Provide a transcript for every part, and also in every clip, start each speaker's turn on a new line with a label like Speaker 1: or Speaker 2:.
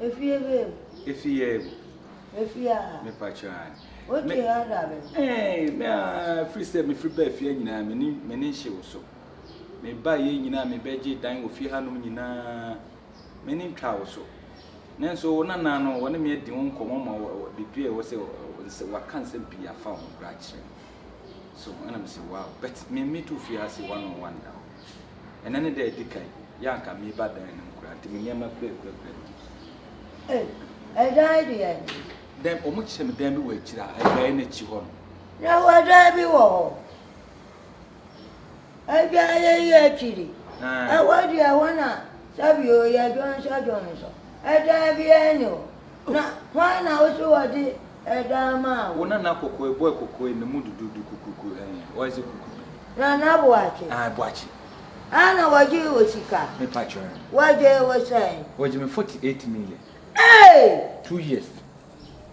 Speaker 1: Efi ebe mu. Efi yɛ mu.
Speaker 2: Efi
Speaker 1: a. Mepakyɛ a. O ti
Speaker 2: ha
Speaker 1: da bɛ. Ɛɛ me a
Speaker 2: firi sɛ mefiri baa fie nyinaa me ni me ni nhye wo so. Me ba yɛ nyinaa me bɛgye dan wɔ fie hanom nyinaa me ni ntwa wo so. Nanso wo nana no wɔne me adi ho nkɔmmɔ ma biribi a ɛwɔ sɛ wɔka nsɛm pii afa ho koraa kyerɛ me. So ɛna me se wow but me me to fie ase one on one da hɔ. Ɛnɛ ne da edi kan yɛ anka me ba dan no mu kura nti me nneɛma kura kura kura bi. Eh,
Speaker 1: ɛdan deɛ ni. Dan wɔn
Speaker 2: kyerɛ me dan bi wɔ akyire a ɛdan no akyi hɔ no. Na wɔ dan
Speaker 1: bi wɔ hɔ. Ɛdan yɛ yɛ akyiri. Ɛwɔ deɛ hɔ na sɛbi o yɛ dwɔnsɔ dwɔnsɔ. Ɛdan bi ɛni hɔ. Na hwan na wosi wɔde. ɛda ama wo. Wo nana koko e boy
Speaker 2: koko e ne mu dududu kukuku eh why is it kukuku. Nana boakye.
Speaker 1: Aye boakye.
Speaker 2: Ah na wagye
Speaker 1: wo sika. Me pacho
Speaker 2: eh.
Speaker 1: Wagye wo sɛn. Wagye me 48
Speaker 2: million. Eeii.
Speaker 1: Two years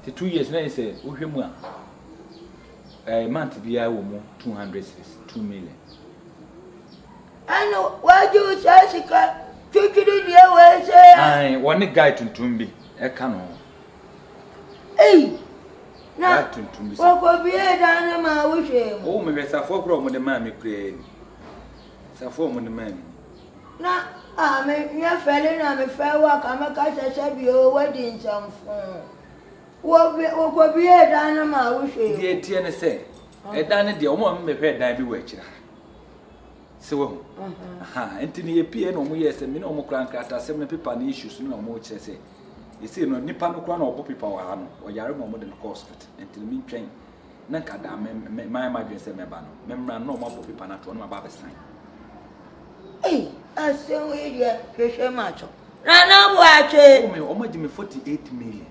Speaker 2: te two years na yese wo hwɛ mu a eh month bi a wɔ mu 200 cities two million. Ɛna
Speaker 1: wagye wo saa sika twitwiri deɛ wɔ ɛsɛ. Aye wɔ ne guy
Speaker 2: tuntum bi ɛka no ho.
Speaker 1: Ei! Na
Speaker 2: wɔkɔbuee dan no
Speaker 1: maa wohwɛɛ mu. O, mehwɛ safoa koro a
Speaker 2: wɔde maa me koraa ni. Safoa a wɔde maa me ni. Na
Speaker 1: a me nyɛ fɛle na me fɛɛ wo a ka me ka kyɛ sɛ bi oo woadi nsɛmfoo. Wɔbue, wɔkɔbuee dan no maa wohwɛɛ mu. Deɛ ɛteɛ ne sɛ,
Speaker 2: ɛdan no deɛ, wɔn ma me bɛhwɛɛ dan bi wɔ akyire ha. Sɛ wahu. Aha, nti no yɛpieeɛ na wɔn yɛɛ sɛ me ne wɔn kora nkratasɛm no pepa no issues no na wɔn kyerɛ sɛ Sesei no nipa no koraa na ɔbɔ paper wɔ ha no ɔyare ma wɔde no kɔ hospital nti no mentwɛn na nka daa me me mayɛ m'adwene sɛ mɛba no memmra no na wɔabɔ paper no ato hɔ na maba abɛsan. Ei
Speaker 1: asɛm wei deɛ hwehwɛ matwo. Nana Boakye. Wome wɔn agye me 48
Speaker 2: million.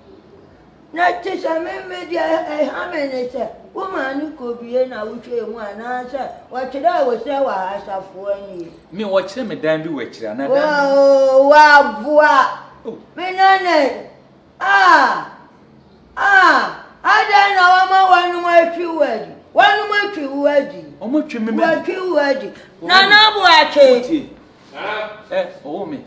Speaker 2: Na
Speaker 1: te sɛ me me deɛ ɛha me ne sɛ wo maa no kɔbie na wohwɛɛ mu anaasɛ wɔkyerɛɛ wo sɛ wɔ ha asafoɔ nie. Me wɔkyerɛ me dan
Speaker 2: bi wɔ akyire ana dan bi. Oh, waboa.
Speaker 1: Oh. Me nana ah ah adɛn na wɔma wɔnom atwi wo adi wɔnom atwi wo adi. Wɔn atwi me mɛ. Wɔatwi
Speaker 2: wo adi.
Speaker 1: Nana boakye. Ɛ
Speaker 2: ɔwɔ me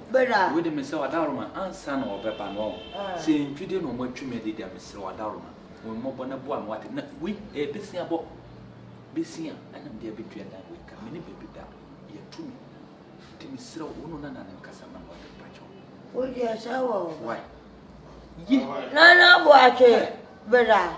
Speaker 2: wei de mesɛ
Speaker 1: ɔdawroma
Speaker 2: ansa na ɔbɛba no ɔho sɛ ntwi de na ɔmo atwi me de deɛ mesɛ ɔdawroma wɔn mmɔbɔ na boa me wate na wei ɛyɛ besia bɔ besia ɛna mede abɛtua dan wei ka me ne baabi da yɛtu me nti mesrɛ wo no nana ne nkasa na wɔde mpakyɛ wo deɛ sɛ
Speaker 1: wɔ wai
Speaker 2: yɛ nana
Speaker 1: boakye bra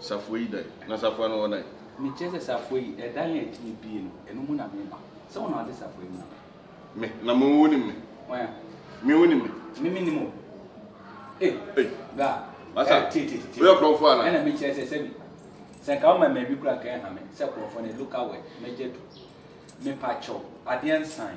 Speaker 2: Safoa yi
Speaker 3: dan. Na Safoa no ɔdan. Mekyerɛ sɛ Safoa
Speaker 2: yi, ɛdan a ɛtumi bue no, ɛno mu na meba. Sɛ wo na woate Safoa yi mu a. Me, na mo
Speaker 3: wonim me. Wɔn a. Me
Speaker 2: wonim me.
Speaker 3: Me mennim o.
Speaker 2: Ei. Ei. Bra. Masa. Ɛ,
Speaker 3: tie, tie, tie, tie. Woyɛ kurɔfoɔ
Speaker 2: anaa? Ɛna
Speaker 3: mekyerɛ sɛ sɛbi.
Speaker 2: Sɛ nka woma mmabi kura ka ɛha me, sɛ kurɔfoɔ no, local word, mɛgya du. Mepa kyɛw, adeɛ nsan.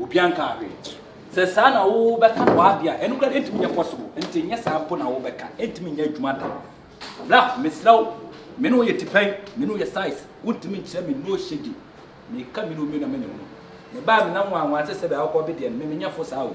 Speaker 2: Obi ankaa hwee. Sɛ saa na wobɛka no w'ade a, ɛno koraa deɛ ɛntumi nyɛ possible. Nti nyɛ saa mpo na wobɛka. Ɛntumi nyɛ adwuma da. Bra, mesrɛ wo. Me ne wo yɛ tipɛn, me ne wo yɛ size. Wontumi nkyerɛ me no shady. Meka me ne wo mmienu na manya hunu. Mebaa me nam nwanwa sɛ sɛdeɛ wokɔ be deɛ no, me menyɛ fo saa o.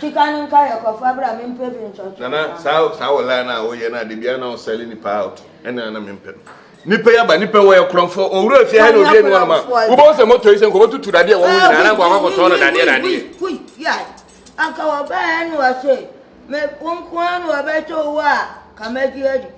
Speaker 1: Sika no nka yɛ kɔfa bra me mpɛ bi ntwɔtwɔ saa. Nana saa saa wɔ
Speaker 3: line a woyɛ na de bia na wo sell nipa out ɛna na me mpɛ no. Nipa yaba nipa wɔ yɛ korɔmfo owura fie ha na obi enu ɔnoma. Wo bɔ sɛ moto yi sɛ nkɔbɔ tutu dadeɛ wɔ ho nyinaa na nkɔbɔ akɔtɔ no dadeɛ dadeɛ. Hui ya
Speaker 1: anka wɔ bɛɛ na wɔ se me wo nko ara na wɔ bɛtɔ wo a ka mɛgye adi.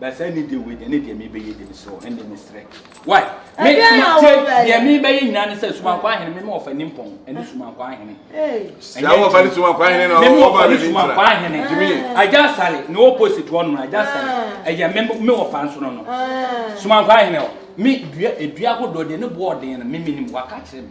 Speaker 2: Basa ni deɛ wei deɛ ne deɛ mebɛyɛ deɛ mesrɛ wo ɛndeɛ mesrɛ wai me suma tie deɛ mebɛyɛ nyinaa ne sɛ sumankɔ ahene mema ɔfa ni mpɔn ɛne sumankɔ ahene ɛnyɛ ɔfa
Speaker 3: ne sumankɔ ahene na mema ɔfa ne sumankɔ
Speaker 2: ahene agya sale ne opposite hɔ no agya sale ɛyɛ me me ɔfa nso no no sumankɔ ahene hɔ me dua edua ahodoɔ deɛ ne boɔ ɔden no me menim waka kyerɛ me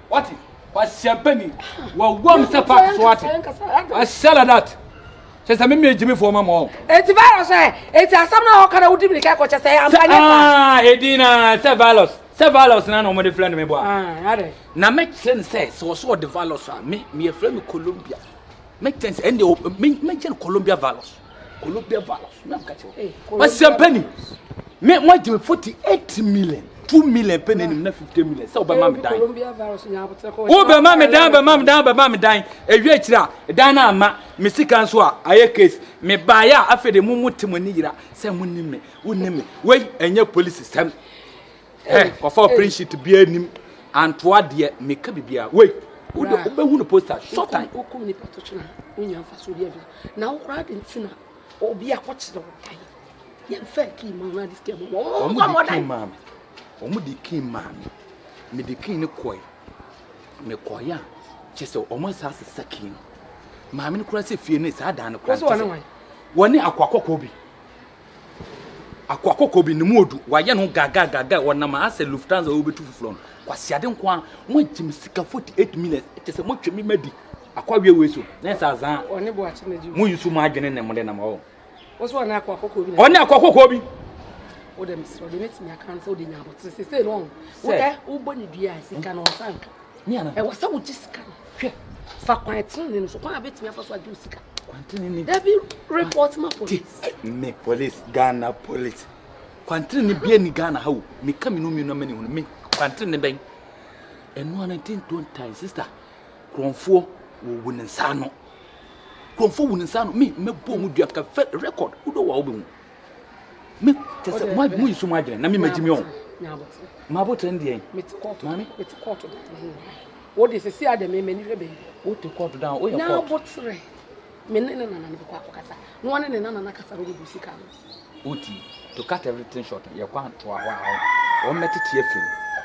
Speaker 2: What? Kwasiampani, wawam sɛ park so ate. I said like that. Kyɛ sɛ mimi gyimi fo ma mɔ. Eti virus ɛ,
Speaker 4: eti asɛm na ɔka na wodi mi kɛ kɔkyɛ sɛ ampa nyɛ sa. Ah, edi
Speaker 2: na sɛ virus, sɛ virus na na ɔmo de flɛ no me bɔ a. Ah, ade. Na
Speaker 4: me kyerɛ no
Speaker 2: sɛ sɛ ɔsɛ ɔde virus a, me, me yɛfrɛ me Colombia. Make sense ɛnde o me me gye no Colombia values Colombia values na mo ka kyerɛ eh, o ɔsɛm pɛ ni me mo agye me forty eight million two million pɛ na anim na fifty million sɛ ɔbɛma eh, me dan
Speaker 4: wobɛma me dan bɛma
Speaker 2: me dan bɛma me dan ɛwie akyiri a dan no ama me sika nso a ayɛ case mebaeɛ a afei de mo mo te mo ani yera sɛ monim me wonim me wei ɛnyɛ polisi sɛm Hey, kɔfa o print sheet bi anim. Antoa deɛ meka bibia. Wei. Wo de wobɛhu no poster short time. Wokum nipa to kyena.
Speaker 4: Wonya mfa so bi afia. Na wo koraa de ntina. Obi akɔkyerɛ wo dan. Yɛn fɛ kii ma na de sika mu. Wɔn fa mɔ dan. Wɔn
Speaker 2: de kii ma me. Me de kii ne kɔɛ. Me kɔɛ a kyɛ sɛ wɔn asa asesa kii no. Maame no koraa sɛ fie ne saa dan no koraa. Wɔne akɔakɔkɔ bi. Akoa kɔkɔɔ bi ne mu odu wayɛ ne ho gagaagagaa ɔnam ha sɛ Lufthansa a ɔrebɛtu foforɔ no kwasiade nko ara moagye me sika 48 minutes kyɛ sɛ motwe me madi akoa wie wei so na ɛsɛ azaa mo
Speaker 4: yi so mo adwene ne mo
Speaker 2: de nam ɔwɔ
Speaker 4: ɔne akoa kɔkɔɔ bi
Speaker 2: wode mesrɛ
Speaker 4: wode mɛtumi aka no sɛ wode nya abɔtere sesei no ɔho wodɛ wobɔ ne dua a sika no ɔnsa nka ɛwɔ sɛ
Speaker 2: wogye sika no
Speaker 4: hwɛ fa kwan tenene no so kwan a bɛtumi afa so agye wo sika dabi
Speaker 2: report
Speaker 4: ma police me police
Speaker 2: ghana police kwantenene bia ni ghana ha o meka me no mmienu amani ho no me kwantenene bɛn ɛno ana nti ntontan sister kurɔnfoɔ wɔwu ne nsa ano kurɔnfoɔ wu ne nsa ano me mɛbɔ mu dua ka fɛ record wodɔ wɔ a wobɛhu me te sɛ mo mo nsu mo adwene na me magye mi ɔn ma abotire no deɛ maame mete
Speaker 4: kɔɔto da no wo de sisi adɛ me m'ani hwɛ bɛyi wote kɔɔto da woyɛ
Speaker 2: kɔɔto na abotire
Speaker 4: me ne ne nana ne bɛkɔ akɔkasa na wɔne ne nana no akasa bɛde bu sika no woti
Speaker 2: to cut everything short yɛkɔ antoa hɔ a wɔmmɛtete afim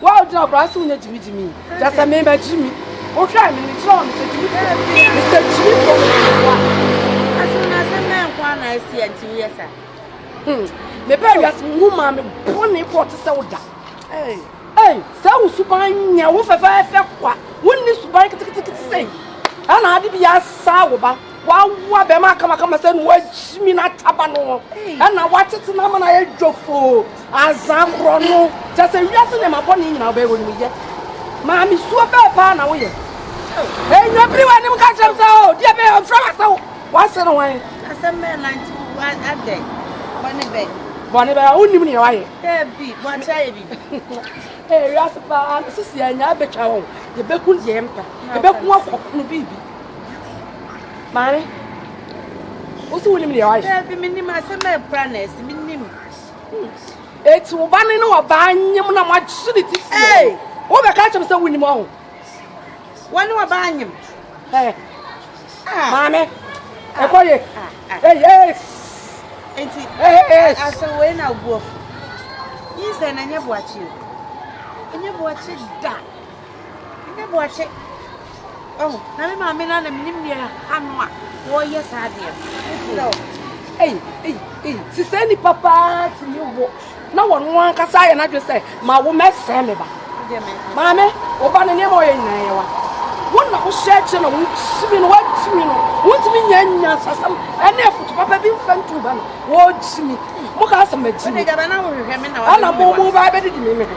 Speaker 4: Wo a wogyina ɔbra so nyɛ gyimigyimi yi, kyerɛ sɛ mema gyimi. Wohwɛɛ me no, mekyerɛɛ wɔn Mr. Gyimi Fofo, Mr. Gyimi Fofo. Asɛm no asɛm bɛn nko ara na asi a nti woyɛ saa? Hmm, mebɛɛ wiase mu hu maa me bɔne kɔɔ te sɛ wo da. Ei, sɛ wo suban nyɛ wo fɛfɛɛfɛ kwa, wonni suban ketekete sɛ yi, ɛna ade bi asaa wo ba. Wɔawoa bɛmma kamakama sɛ na wɔagyimi n'ataba no ho, ɛnna wɔatete no ama no ayɛ dwofoo, ansa korɔno, kyerɛ sɛ wiase nneɛma bɔne nyinaa wobɛyɛ wɔ ne mu. Yɛ maame suo bɛn paa na woyɛ? Enyo piri w'anim ka kyerɛ me sɛ, O, deɛ bɛyɛ ɔmfrɛ w'asɛm, w'ase no hwan? Asɛm bɛn na nti adɛ? Bɔne bɛn? Bɔne bɛn a wonnim nea wayɛ? Daabi, wɔakyɛ ayɛ biribi. Ee, wiase paa, sisi yɛanya abɛtwa wɔn, yɛbɛku deɛ yɛmpɛ, yɛbɛku akɔkono biribi. maame wosi wo nim deɛ wayɛ. daabi mi nim asɛm a ekura na ɛsi mi nim. eti wo ba ne ne wɔ baa nyim na mo agye ne ti si wɔn wo bɛ ka kyɛm sɛ wo nim ɔho. wɔn ne wɔ baa nyim. ɛɛ maame ɛkɔ ye ɛyi ɛɛ. nti asɛ wei na obu ɔfo yi sɛ na nyɛ boakye o nyɛ boakye da. Ɛnyɛ boakye. Oh, na me maame na na menim nea ano a wɔyɛ saa deɛ no. Mesrɛ wo. Ei, ei, ei, si sɛ nipa paa tumi wo na wɔn ankasa ayɛ n'adwe sɛ ma wo mɛsɛe me ba. Maame, wo ba no nneɛma ɔyɛ nyinaa yɛ wa. Wo na wohyɛ akyɛ na wokyimi no, woakyimi no. Wontumi nyɛ nyansasɛm ɛne afotu papa bi mfa ntu ba no. Wokyimi. Mo ka sɛ makyimi. Ana mo mo ba bɛdidi me me ho.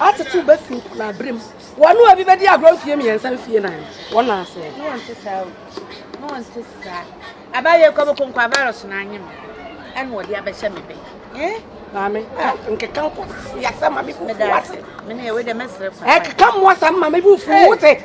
Speaker 4: Atetew bɛ fi nkonabere mu. Wɔn a obi bedi agorɔ mfie mmiɛnsa mfie nan no, wɔn na asɛe. Ne wɔn te saa o. Ne wɔn te saa. Aba yɛ kɔbɔ konkoa virus na anye me. Ɛna wɔde abɛhyɛ me bɛ. Eh? Maame, ah, nkeka nkɔ yasa maame bu fuwa se. Mene ɛwe dɛ mɛsrɛ fa. Ɛkeka mmoa sa maame bu fuwa se.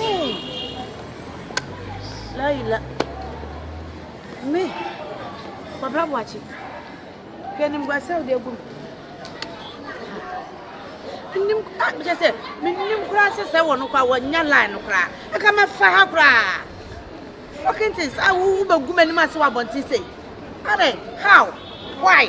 Speaker 4: Ooh. La ila. Me. Kwabra Boakye. Hwɛ animguase a wode agu me. Nnim ah mekyɛ sɛ mennim koraa sɛ sɛ wɔ no koraa wɔnya line no koraa. Ɛka mɛfa ha koraa. Fucking things a wowu bɛgu m'anim ase wɔ abɔnten sei. Adɛn? How? Why?